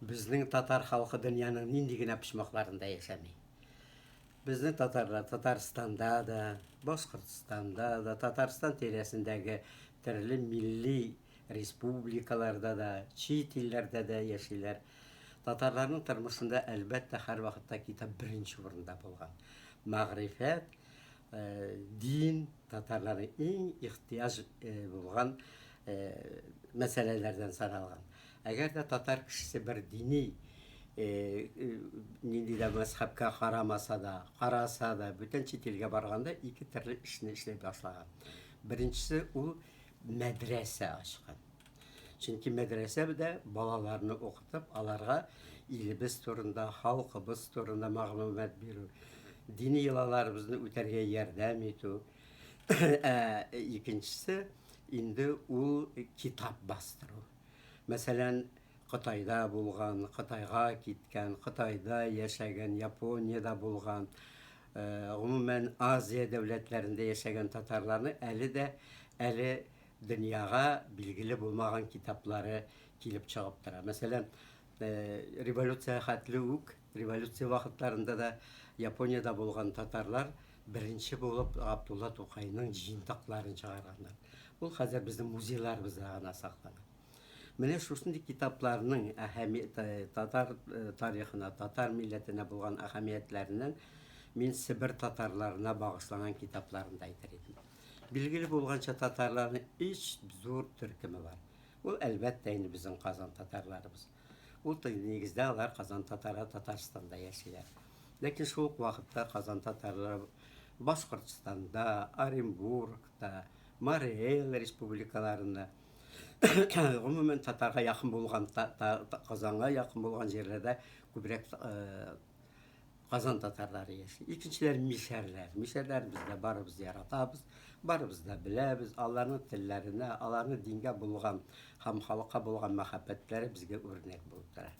Безнең татар халкы дөньяның нинди генә почмакларында яшәми. Безнең татарлар Татарстанда да, Башкортстанда да, Татарстан тирәсендәге төрле милли республикаларда да, чит илләрдә дә яшиләр. Татарларның тормышында, әлбәттә, һәрвакытта китап беренче урында булган. Мәгърифәт, Дин татарлары иң ихтияҗ булган мәсьәләләрдән саналган. Әгәр дә татар кешесе бер дини нинди дә мәзхәбкә карамаса да, караса да, бүтән чит илгә барганда ике төрле эшне эшли башлаган. Беренчесе ул мәдрәсә ачкан. Чөнки мәдрәсәдә балаларны укытып, аларга илебез турында, халкыбыз турында мәгълүмат бирү, дини йолаларыбызны үтәргә ярдәм итү. Ә икенчесе инде ул китап бастыру. Мәсәлән, Кытайда булган, Кытайга киткән, Кытайда яшәгән, Япониядә булган, э, гомумән Азия дәүләтләрендә яшәгән татарларны әле дә әле дөньяга билгеле булмаган китаплары килеп чыгып тора. Мәсәлән, революция хәтле үк, революция вакытларында да Япониядә булган татарлар беренче булып Габдулла Тукайның җыентыкларын чыгарганнар. Ул хәзер безнең музейларыбызда гына саклана. Менә шушындый китапларның әһәмияте татар тарихына, татар милләтенә булган әһәмиятләреннән мин Себер татарларына багышланган китапларны да әйтер идем. Билгеле булганча, татарларның өч зур төркеме бар. Ул, әлбәттә, инде безнең Казан татарларыбыз. Ул тел, нигездә, алар Казан татары Татарстанда яшиләр. Ләкин шул ук вакытта Казан татарлары Башкортстанда, Оренбургта, Мары Эл республикаларында, гомумән, татарга якын булган, Казанга якын булган җирләрдә күбрәк Казан татарлары яши. Икенчеләр мишәрләр. Мишәрләр без дә барыбыз да яратабыз, барыбыз да беләбез. Аларның телләренә, аларның дингә булган һәм халыкка булган мәхәббәтләре безгә үрнәк булып тора.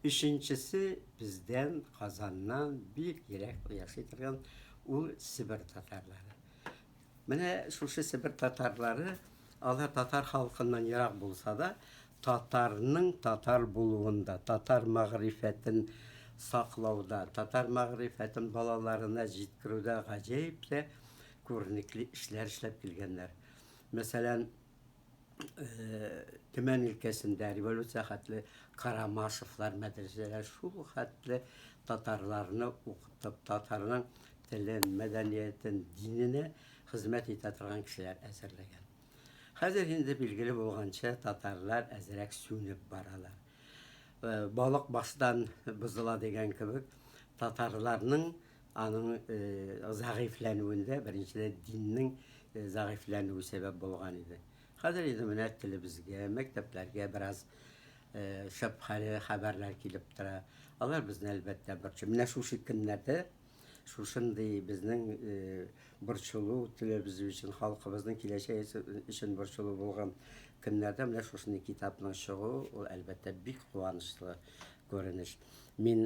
Өченчесе бездән Казаннан бик ерак яши торган ул Себер татарлары. Менә шушы Себер татарлары, алар татар халкыннан ерак булса да, татарның татар булуында, татар мәгърифәтен саклауда, татар мәгърифәтен балаларына җиткерүдә гаҗәеп тә күренекле эшләр эшләп килгәннәр. Мәсәлән, Төмән өлкәсендә революция хәтле Карамашевлар мәдрәсәләр шул хәтле татарларны укытып, татарның телен, мәдәниятен, диненә хезмәт итә торган кешеләр әзерләгән. Хәзер инде билгеле булганча, татарлар әзрәк сүнеп баралар. Балык баштан бозыла дигән кебек, татарларның Аның зәгыйфьләнүендә беренчедән диннең зәгыйфьләнүе сәбәп булган иде. Хәзер инде менә телебезгә, мәктәпләргә бераз шәбһәле хәбәрләр килеп тора. Алар безне әлбәттә борчый. Менә шушы көннәрдә шушындый безнең борчылу, телебез өчен, халкыбызның киләчәге өчен борчылу булган көннәрдә менә шушындый китапның чыгуы, ул әлбәттә бик куанычлы күренеш. Мин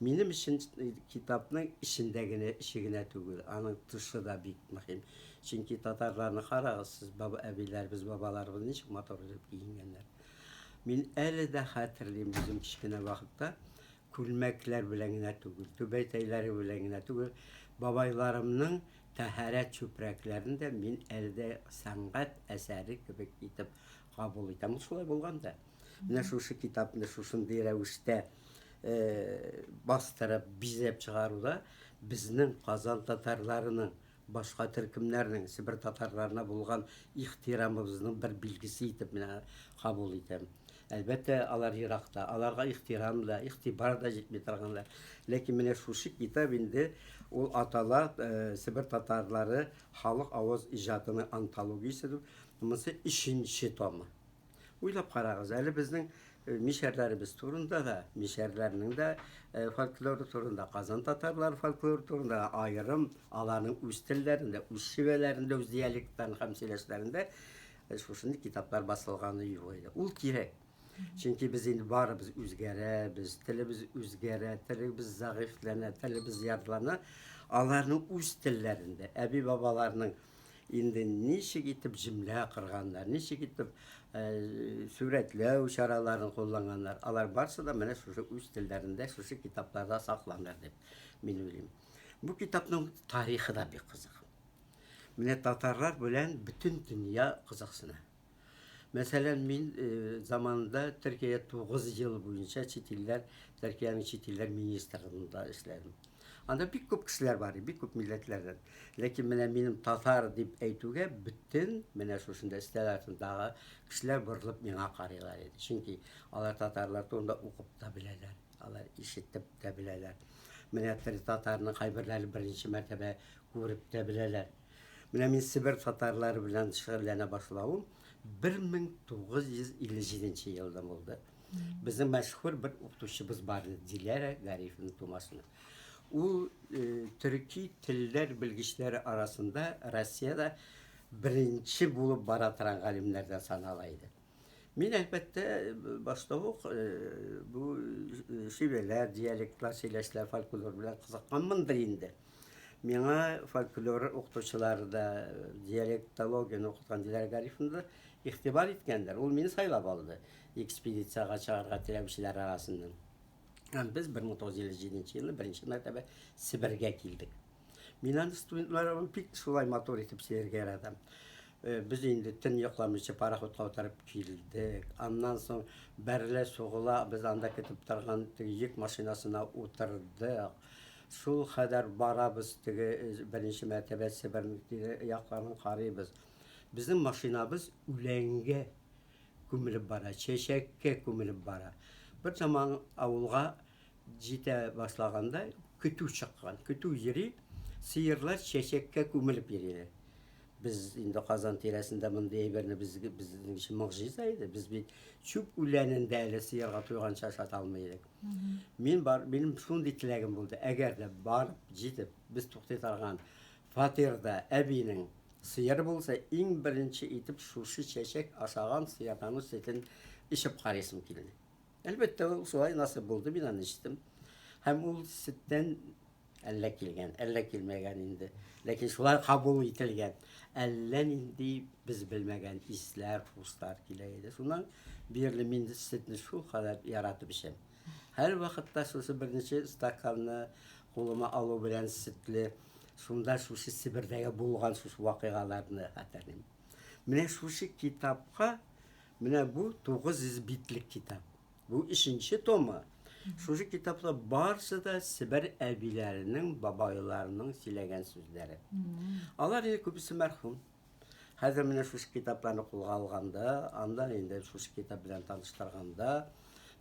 Минем өчен китапның эчендә генә, эче генә түгел, аның тышы да бик мөһим. Чөнки татарларны карагыз, сез баба, әбиләребез, бабаларыбыз ничек матур итеп киенгәннәр. Мин әле дә хәтерлим, үзем кечкенә вакытта күлмәкләр белән генә түгел, түбәтәйләре белән генә түгел, бабайларымның тәһарәт чүпрәкләрен дә мин әле дә сәнгать әсәре кебек итеп кабул итәм. Ул шулай булган да. Менә шушы китапны шушындый рәвештә бастырып, бизәп чыгаруда безнең Казан татарларының башка төркемнәрнең Себер татарларына булган ихтирамыбызның бер билгесе итеп менә кабул итәм. Әлбәттә, алар еракта, аларга ихтирам да, ихтибар да җитми торганда. Ләкин менә шушы китап инде ул атала э, Себер татарлары халык аваз иҗатының антологиясе дип, монысы өченче томы. Уйлап карагыз әле безнең э, мишәрләребез турында да, мишәрләрнең дә э, фольклоры турында, Казан татарлары фольклоры турында аерым, аларның үз телләрендә, үз шивәләрендә, үз диалектларын һәм сөйләшләрендә э, шушындый китаплар басылганы юк иде. Ул кирәк. Чөнки без инде барыбыз үзгәрәбез, телебез үзгәрә, телебез зәгыйфьләнә, телебез ярлана. Аларның үз телләрендә, әби-бабаларның инде ничек итеп җөмлә кырганнар, ничек итеп э, сурәтләү чараларын кулланганнар, алар барысы да менә шушы үз телләрендә, шушы китапларда сакланыр дип мин уйлыйм. Бу китапның тарихы да бик кызык. Менә татарлар белән бөтен дөнья кызыксына. Мәсәлән, мин заманында Төркиядә 9 ел буенча чит илләр, Төркиянең чит илләр министрлыгында эшләдем. Анда бик күп кешеләр бар иде, бик күп милләтләрдән. Ләкин менә минем татар дип әйтүгә бөтен менә шушында өстәл артындагы кешеләр борылып миңа карыйлар иде. Чөнки алар татарлар турында укып та беләләр, алар ишетеп тә беләләр. Менә тел татарының кайберләре беренче мәртәбә күреп тә беләләр. Менә мин Себер татарлары белән шөгыльләнә башлавым 1957 елда булды. Безнең мәшһүр бер укытучыбыз бар иде, Диләрә Гарифовна Тумашина. Ул э, төрки телләр белгечләре арасында Россиядә беренче булып бара торган галимнәрдән санала иде. Мин, әлбәттә, башта ук бу шивәләр, диалектлар, сөйләшләр, фольклор белән кызыкканмындыр инде. Миңа фольклор укытучылары да, диалектологияне укыткан Диләр Гарифовна да игътибар иткәндер. Ул мине сайлап алды экспедициягә чыгарга теләүчеләр арасыннан. Һәм без 1957 елны беренче мәртәбә Себергә килдек. Мин аны студентларым бик шулай матур итеп сөяргә яратам. Э, без инде төн йокламыйча пароходка утырып килдек. Аннан соң бәрелә сугыла, без анда көтеп торган теге йөк машинасына утырдык. Шул хәдәр барабыз теге э, беренче мәртәбә Себер якларын карыйбыз. Безнең машинабыз үләнгә күмелеп бара, чәчәккә күмелеп бара. Бер заман авылга Җитә башлаганда көтү чыккан. Көтү йөри, сыерлар чәчәккә күмелеп йөриләр. Без инде Казан тирәсендә мондый әйберне без безнең өчен могҗиза иде. Без бит чүп үләнен дә әле сыерга туйганча ашата алмый идек. Мин бар, минем шундый теләгем булды. Әгәр дә бар җитеп, без туктый торган фатирда әбинең сыер булса, иң беренче итеп шушы чәчәк ашаган сыердан сөтен ишеп карыйсым килде. Әлбәттә, ул шулай насып булды, мин аны эчтем. Һәм ул сөттән әллә килгән, әллә килмәгән инде. Ләкин шулай кабул ителгән. Әллә нинди без белмәгән исләр, хуслар килә иде. Шуннан бирле мин сөтне шул кадәр яратып эчәм. Һәр вакытта шушы беренче стаканны кулыма алу белән сөтле, шунда шушы Себердәге булган шушы вакыйгаларны хәтерлим. Менә шушы китапка Менә бу 900 битлек китап. Бу өченче томы. Шушы китапта барысы да Себер әбиләренең, бабайларының сөйләгән сүзләре. Алар инде күбесе мәрхүм. Хәзер менә шушы китапларны кулга алганда, анда инде шушы китап белән таныштырганда,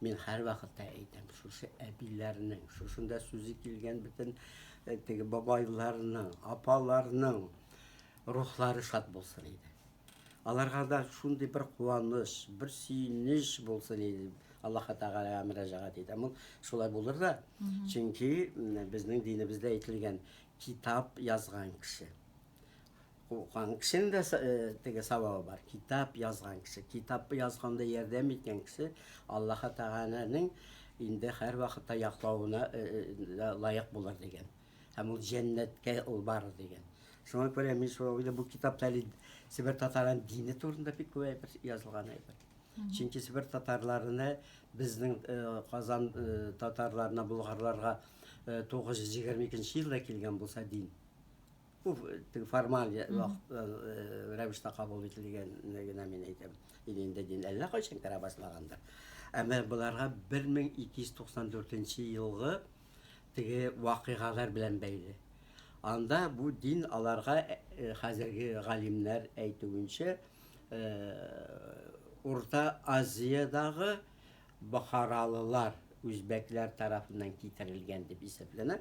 мин һәрвакытта әйтәм, шушы әбиләрнең, шушында сүзе килгән бөтен э, теге бабайларның, апаларның рухлары шат булсын иде. Аларга да шундый бер куаныч, бер сөенеч булсын иде. Аллаһ Тәгаләгә мөрәҗәгать итәм. Ул шулай булыр да. Чөнки безнең динебездә әйтелгән китап язган кеше. Укыган кешенең дә э, теге савабы бар. Китап язган кеше, китапны язганда ярдәм иткән кеше Аллаһ Тәгаләнең инде һәр вакытта яклавына э, э, лаек булыр дигән. Һәм ул җәннәткә ул бары дигән. Шуңа күрә мин шул уйлы бу китапта әле Себер татарының дине турында бик күп әйбер язылган әйбер. Чөнки Себер татарларына безнең э, Казан э, татарларына, болгарларга 922 э, елда килгән булса дин. Бу формаль рәвештә кабул ителгән генә мин әйтәм. Инде дин әллә кайчан керә башлагандыр. Әмма боларга 1294 елгы Теге вакыйгалар белән бәйле. Анда бу дин аларга, хәзерге галимнәр әйтүенчә, Урта Азиядагы бохаралылар, үзбәкләр тарафыннан китерелгән дип исәпләнә.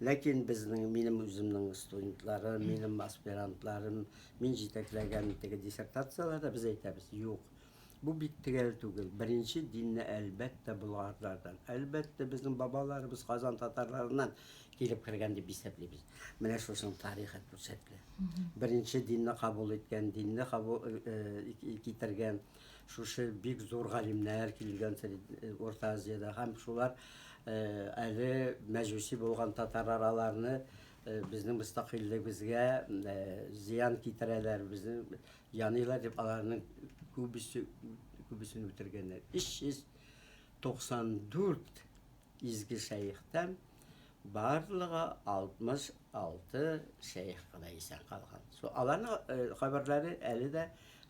Ләкин безнең, минем үземнең студентларым, минем аспирантларым, мин җитәкләгән теге диссертацияләрдә без әйтәбез, юк, Бу бик төгәл түгел. Беренче динне, әлбәттә, болгарлардан, әлбәттә, безнең бабаларыбыз Казан татарларыннан килеп кергән дип исәплибез. Менә шушының тарихы күрсәтелә. Беренче динне кабул иткән, динне кабул китергән шушы бик зур галимнәр килгән Урта Азиядә һәм шулар әле мәҗүси булган татарлар аларны безнең мөстәкыйльлегебезгә зыян китерәләр, безнең Яныйлар дип аларның күбесе күбесен үтергәннәр. 394 изге шәехтән барлыгы 66 шәех кына исән калган. Шул аларның хәбәрләре әле дә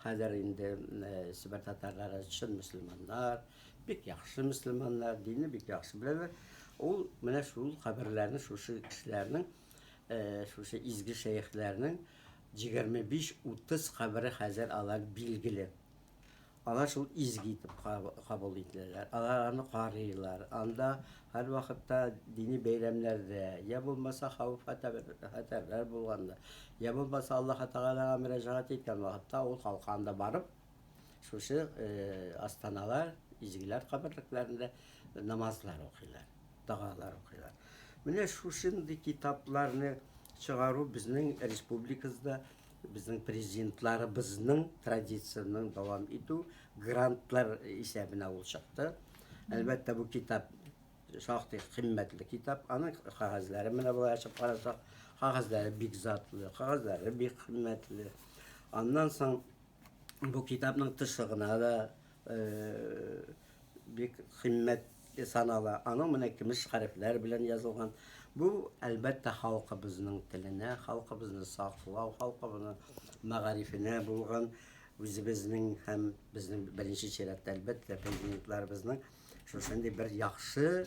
хәзер инде Себер татарлары чын мөселманнар, бик яхшы мөселманнар, динне бик яхшы беләләр. Ул менә шул хәбәрләрне шушы кешеләрнең Шушы изге шәехләрнең җигерме биш, утыз кабере хәзер алар билгеле. Алар шул изге итеп кабул ителәләр. Алар аны карыйлар. Анда һәрвакытта дини бәйрәмнәрдә, я булмаса хавыф-хәтәрләр булганда, я булмаса Аллаһы Тәгаләгә мөрәҗәгать иткән вакытта ул калканда барып, Шушы астаналар, изгеләр каберлекләрендә намазлар укыйлар, догалар укыйлар. Менә шушындый китапларны чыгару безнең республикабызда безнең президентларыбызның традициясен дәвам итү грантлар исәбенә ул чыкты. Әлбәттә, бу китап шактый кыйммәтле китап. Аның кагазьләре менә болай ачып карасак, кагазьләре бик затлы, кагазьләре бик кыйммәтле. Аннан соң Бу китапның тышы гына да бик кыйммәт санала. Аның менә кимеш хәрефләр белән язылган. Бу, әлбәттә, халкыбызның теленә, халкыбызны саклау, халкыбызның мәгарифенә булган үзебезнең һәм безнең беренче чиратта, әлбәттә, президентларыбызның шушындый бер яхшы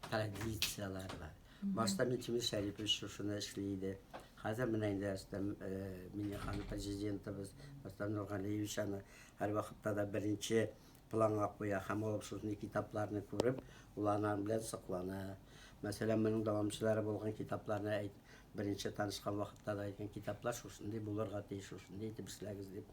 Традицияләр бар. Башта Минтимер Шәрипович шушыны эшли иде. Хәзер менә инде Рөстәм э, Миңнеханов президентыбыз Рөстәм Нургалиевич аны һәрвакытта да беренче планга куя һәм ул шушындай китапларны күреп, ул аның белән соклана. Мәсәлән, моның дәвамчылары булган китапларны әйт, беренче танышкан вакытта да әйткән китаплар шушындый булырга тиеш, шушындый итеп эшләгез дип.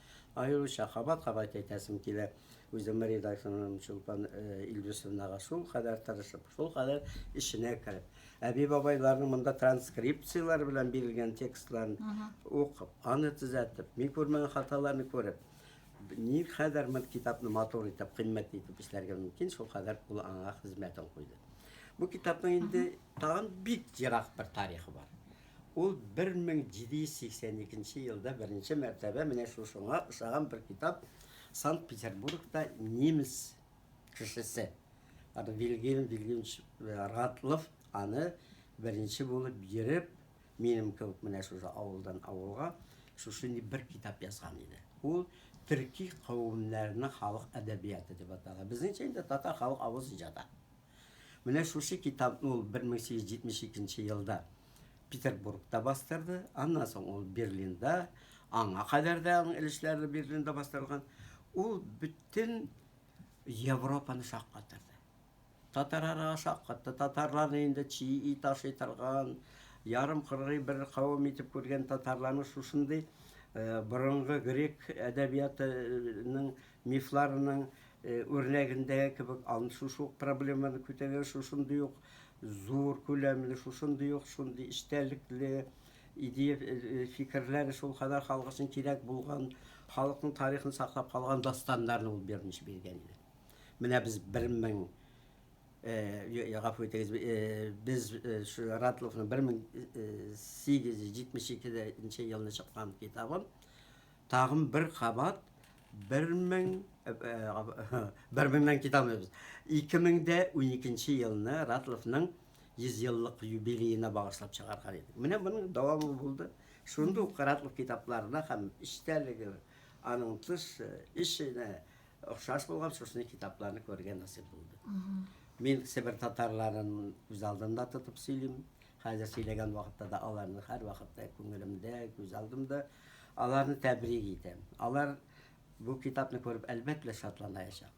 Аеруча кабат-кабат әйтәсем килә, үземнең редакторым Чулпан Илдусовнага шул кадәр тырышып, шул кадәр эченә кереп, әби-бабайларның монда транскрипцияләр белән бирелгән текстларын укып, аны төзәтеп, мин күрмәгән хаталарны күреп, никадәр бер китапны матур итеп, кыйммәтле итеп эшләргә мөмкин, шул кадәр ул аңа хезмәтен куйды. Бу китапның инде тагын бик ерак бер тарихы бар. Ул 1782 нче елда беренче мәртәбә менә шушыңа ошаган бер китап Санкт-Петербургта немец кешесе Вильгельм Вильгельмович Ратлов аны беренче булып йөреп, минем кебек менә шушы авылдан авылга шушындый бер китап язган иде. Ул төрки кавемнәрнең халык әдәбияты дип атала. Безнеңчә инде татар халык авыз иҗаты. Менә шушы китапны ул 1872 нче елда Петербургта бастырды, аннан соң ул Берлинда, аңа кадәр дә аның өлешләре Берлинда бастырылган. Ул бөтен Европаны шаккатырды. Татарара шаккатты, татарларны инде чи и таши торган, ярым кыргый бер кавым итеп күргән татарларны шушындый э, борынгы грек әдәбиятының мифларының үрнәгендәге кебек аны шушы ук проблеманы күтәргән, шушындый ук зур күләмле, шушындый ук шундый эчтәлекле идея, фикерләре шул кадәр халык өчен кирәк булган, халыкның тарихын саклап калган дастаннарны ул беренче биргән иде. Менә без 1000 гафу итегез, без шу Ратловның 1872 елны чыккан китабын Тагын бер кабат бер мең, бер меңнән китә алмыйбыз, ике мең дә уникенче елны Ратловның 100 еллык юбилеена багышлап чыгарган идек. Менә моның дәвамы булды. Шундый ук Ратлов китапларына һәм эчтәлеге, аның тыш эшенә охшаш булган шушындый китапларны күрергә насыйп булды. Мин Себер татарларын үз алдында тотып сөйлим. Хәзер сөйләгән вакытта да аларны һәрвакытта күңелемдә, күз алдымда. Аларны тәбрик итәм. Алар бу китапны күреп, әлбәттә, шатланаячак.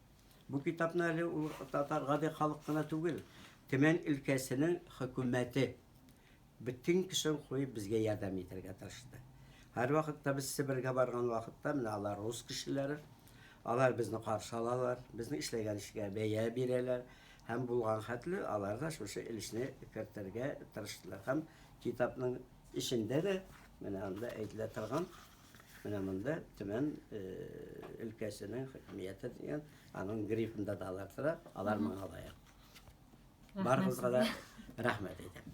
Бу китапны әле ул татар гади халык кына түгел, Төмән өлкәсенең хөкүмәте бөтен көчен куеп безгә ярдәм итәргә тырышты. Һәрвакытта без Себергә барган вакытта, менә алар рус кешеләре, Алар безне каршы алалар, безнең эшләгән эшкә бәя бирәләр һәм булган хәтле алар да шушы өлешне кертергә тырыштылар. Һәм китапның эчендә дә менә анда әйтелә торган менә монда Төмән өлкәсенең хакимияте дигән аның грифында да алар тора, алар моңа лаек. Барыгызга да рәхмәт әйтәм.